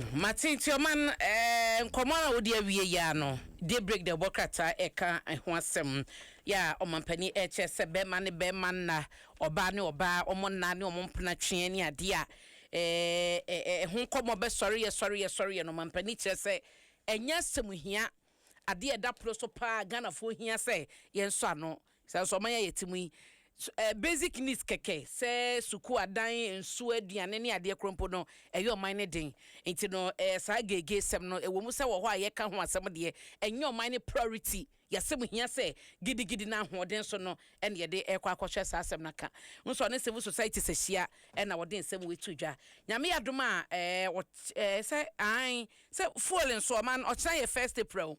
M'Atete Ɔman nkɔmmɔ a ɔdi awie yi ara no, Daybreak na ɛbɔ krataa reka ho asɛm, yɛ a ɔmanpanin rekyerɛ sɛ bɛrima ne bɛrima nna, ɔbaa ne ɔbaa wɔn nna ne wɔn mpena tweɛ ne adeɛ a ɛho nkɔmmɔ bɛsɔreɛ sɔreɛ sɔreɛ no, ɔmanpanin kyerɛ sɛ ɛnyɛ asɛm hia, adeɛ a ɛda pono so pa ara a Ghanafoɔ hia sɛ yɛnsɔ ano Sɛ nso ɔman yi a yɛte mu yi, basic needs kɛkɛ sɛ sukuu, adan, nsuo, aduane ne adeɛ korɔ mpo no, ɛyɛ ɔman no den. Nti no, saa geegeesɛm no, ɛwɔ mu sɛ wɔ hɔ a yɛka ho asɛm deɛ, ɛnyɛ ɔman no priority. Yɛasɛm hia sɛ gidigidi na ahoɔden so no na yɛde rekɔ akɔhwɛ saa asɛm no aka. Wohu sɛ ɔne civil societies ahyia na wɔde nsɛm wei to dwa. Nyame yɛ adom a, ɛɛ, wɔ, ɛɛ, sɛ, aane, sɛ fuel nso, ɔman no, ɔkyena yɛ first April.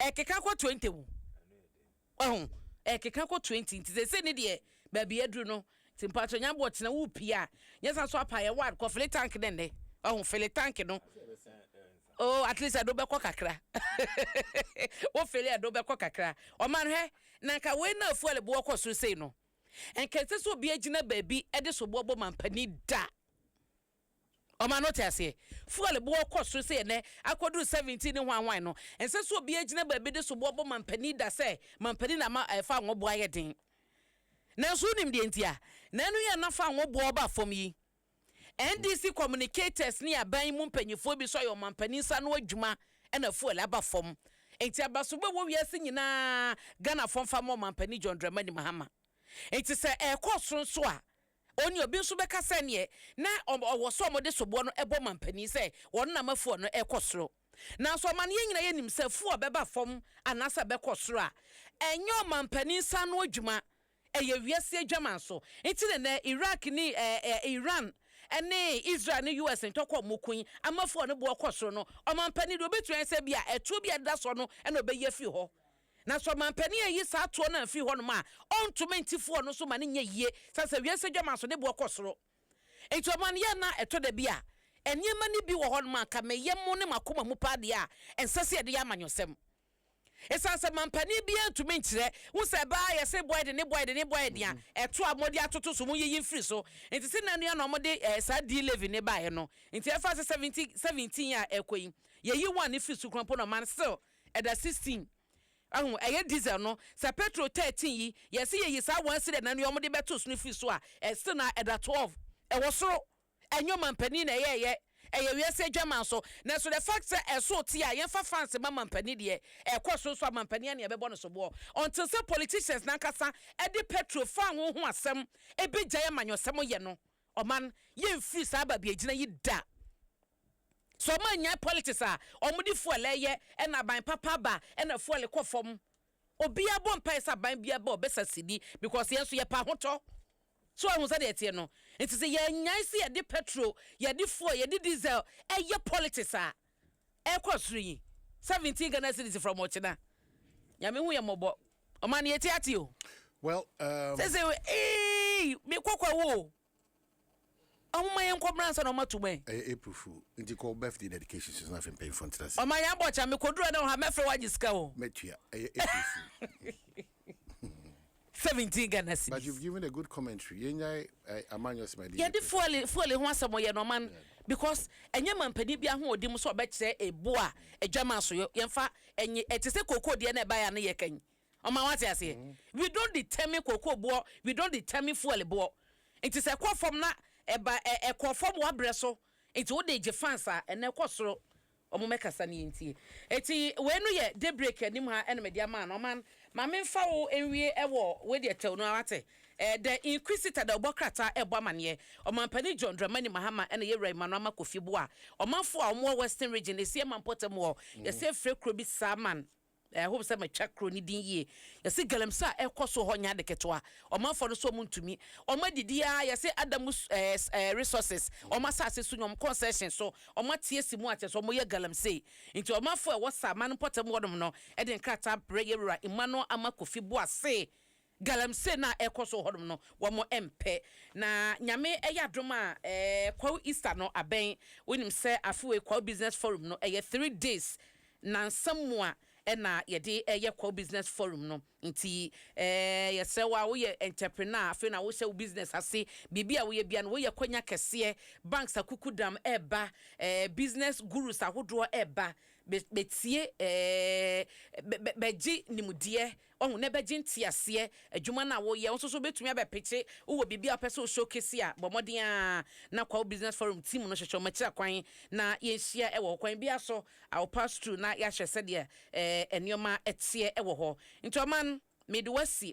Ɛkeka kɔ twenty o. Wahu? Ɛkeka kɔ twenty nti sese ne deɛ baabi aduru no nti mpatsɔ nya bɔ tena wo pie a nyɛ sa so apa yɛ one kɔ fili tank ne nnɛ. Wahu? Fili tank no. Oh at least ɛdo bɛkɔ kakra. Wo fili ɛdo bɛkɔ kakra. Ɔman hwɛ na nka wei na fuel boɔ kɔ soro sei no nka ɛsɛ sɛ obi agyina baabi ɛde soboɔ bɔ mampanin da. Ɔma no te aseɛ. Fuel boɔ kɔ soro sɛ ɛnɛ akɔduru 17 ne hwan hwan no, ɛnsɛ sɛ obiara gyina baabi de soboɔ bɔ mampanin da sɛ mampanin na ama ɛɛ fangoo boɔ ayɛ den. Nanso wonim deɛ nti a na ɛno yɛ a na fangoo boɔ ba fam yi? NDC communicators ne aban yi mu mpanimfoɔ bi nso ayɛ wɔn mampanin nsa ano adwuma na fuel aba fam. Enti abasobɔ a ɛwɔ wiase nyinaa Ghanafoɔ mfa mmɔ ɔmampanin John Dramani Mahama. Enti sɛ ɛrekɔ soro nso a, Onii obi nso bɛka sɛ neɛ na ɔwɔ sɛ wɔde soboɔ no bɔ mampanin sɛ wɔn nam afuo no rekɔ soro. Nanso amanneɛ nyinaa yɛ nim sɛ afuo a ɛbɛba fam anaasɛ ɛbɛkɔ soro a, ɛnyɛ ɔmampanin sa ano adwuma, ɛyɛ wiase adwaman so. Nti na nnɛ Iraq ne Iran ne Israel ne US ntɔkwa a wɔko yi ama afuo a ne boɔ kɔ soro no, ɔmampanin deɛ ɔbɛtumi ayɛ sɛ ebia ɛtoɔ bi a ɛdeda soɔ no na ɔbɛyi afiri hɔ. Na sɛ ɔmanpanin reyi saa toɔ no afiri hɔnom a, ɔntumi nte foɔ no so ma no nyɛ yie sane sɛ wiase adwaman so ne boɔ kɔ soro. Enti ɔman yɛɛ no a ɛtɔ da bi a, nneɛma no bi wɔ hɔnom a anka me yam ne m'akoma mu paa deɛ a, ɛnsɛ sɛ yɛde yɛ amanyɔsɛm. Ɛsiane sɛ manpanin biara ntumi nkyerɛ, wo sɛ ɛba a yɛse boa yɛ den ne boa yɛ den ne boa yɛ den a, ɛtoɔ a mode atoto so, monyiyi mfiri so. Enti sɛ nna nnua na wɔde saa din Levi no baeɛ no, enti ɛfa ase 17 17 a ɛrekɔ yi, yɛayi one firi so kura mpo na ɔman still Ɛda sixteen. Wahu? Ɛyɛ diesel no. Sɛ petrol thirteen yi, yɛse yɛyi saa one cedi anan yi a wɔde bɛto so no firi so a, still na ɛda twelve. Ɛwɔ soro. Ɛnyɛ ɔmampanin na ɛyɛɛyɛ. Ɛyɛ wiase adwaman so. Nanso the fact sɛ ɛsoo te a, yɛmfa France mma mampanin deɛ, ɛkɔ soro nso a, mampanin ara na yɛbɛbɔ no soboɔ. Until sɛ politicians no ankasa de petrol fanho ho asɛm bɛgyae amanyɔsɛm yɛ no. Ɔman yɛn firi saa babiagyina yi da. Sɛ ɔman nyae politics a ɔmo de fuel ɛyɛ ɛna aban papa aba ɛna fuel kɔ fam. Obia bɔ mpae sɛ aban bia ba ɔbɛsa sidi because yɛn nso yɛpɛ ahotɔ. So wahu sɛdeɛ ɛteɛ no? Nti sɛ yɛnyae sɛ yɛde petrol, yɛde fuel, yɛde diesel ɛyɛ politics a. ɛkɔ soro yi seventeen Ghana cedis from ɔkyena nyame hu yɛ mɔbɔ ɔma no yɛti ate o well um... sese ee me kɔkɔ wo ɔmo ma yɛn kɔ mmerɛ ansa na ɔmo ato mu ɛ ɛyɛ april fool nti kɔ birthday dedication so na afei mpanyinfoɔ ntena ase ɔma yɛn abɔ kya me kɔduru ɛna ɔha mɛfrɛ wagye sika o mɛtua ɛyɛ april fool 17 Ghana But you've cedis. given a good commentary. Yɛnyae ɛ, amanyɔsɛm a ɛde yɛ Yɛde pɛ. fuel fuel ho asɛm yɛ nɔman Yeah. because ɛnyɛ manpanin bi ahoɔden mu sɛ ɔbɛkyerɛ ebo a adwaman so yɔ yɛmfa ɛnye ɛte sɛ kookoo deɛ na ɛbaeɛ a ne yɛ kan ɔman wate aseɛ we don't determine kookoo boɔ we don't determine fuel boɔ nti sɛ ɛkɔ fam na ɛba ɛ ɛkɔɔ fam wabrɛ so nti wode gye fans a ɛnɛ ɛkɔ soro Wɔmmɛkasa na yɛntie. Enti wei no yɛ daybreak anim ha na mede ama no. Ɔman, ma memfa wo nwie wɔ wei deɛ tɛw no ara wate. Ɛɛ The Inquisitor da ɔbɔ krataa rebɔ amaneɛ. Ɔmanpanin John Dramani Mahama na yɛwura Emmanuel Ama Kofi Boah. Ɔmanfoɔ a wɔwɔ Western Region, Esiaman mpɔtam hɔ, yɛsɛ frɛ kuro bi Saman. I hope sɛ matwa kuro no din yie. Yɛse galamsey a ɛkɔ so hɔ nyɛ ade ketewa. Ɔmanfoɔ no so ɔmo ntumi. Ɔmo adidi aa yɛse Adamu ɛɛɛ resources ɔmo asase so nyɛ ɔmo concession so ɔmo ateɛ si mu a kyerɛsɛ ɔmo yɛ galamsey. Nti ɔmanfoɔ a ɛwɔ Saman mpɔtam hɔ nom no de nkrataa brɛ yɛn Wura Emmanuel Ama Kofi Boasee Galamsey no a ɛrekɔ so wɔ hɔnom no, wɔmpɛ. Na Nyame yɛ adom a, ɛɛ, Kwawu Easter no abɛn. Wonim sɛ afe wei Kwawu Business Forum no, ɛyɛ three days, nnansa mu a ɛna yɛde yɛ Kwawu Business Forum no. Nti, ɛɛ, yɛsrɛ wo a woyɛ entrepreneur, afei na wohyɛ wo business ase, biribi a woyɛ biara no, woyɛ kwanya kɛseɛ, banks akukudam reba, ɛɛ, business gurus ahodoɔ reba bɛ, bɛtie, ɛɛ, bɛ, bɛ, bɛgye nimdeɛ Wahu, na ɛbɛgye nteaseɛ. Adwuma no a woreyɛ, wo nso so wobɛtumi abɛpekye. Wowɔ biribi a wopɛ sɛ wo showcase a, bɔ mmɔden ara na Kwawu Business Forum team no hwehwɛ wɔn akyira kwan na yɛnhyia wɔ hɔ. Kwan biara so, I will pass through na yɛahwɛ sɛdeɛ nneɛma teɛ wɔ hɔ. Nti Ɔman, mede wo asi.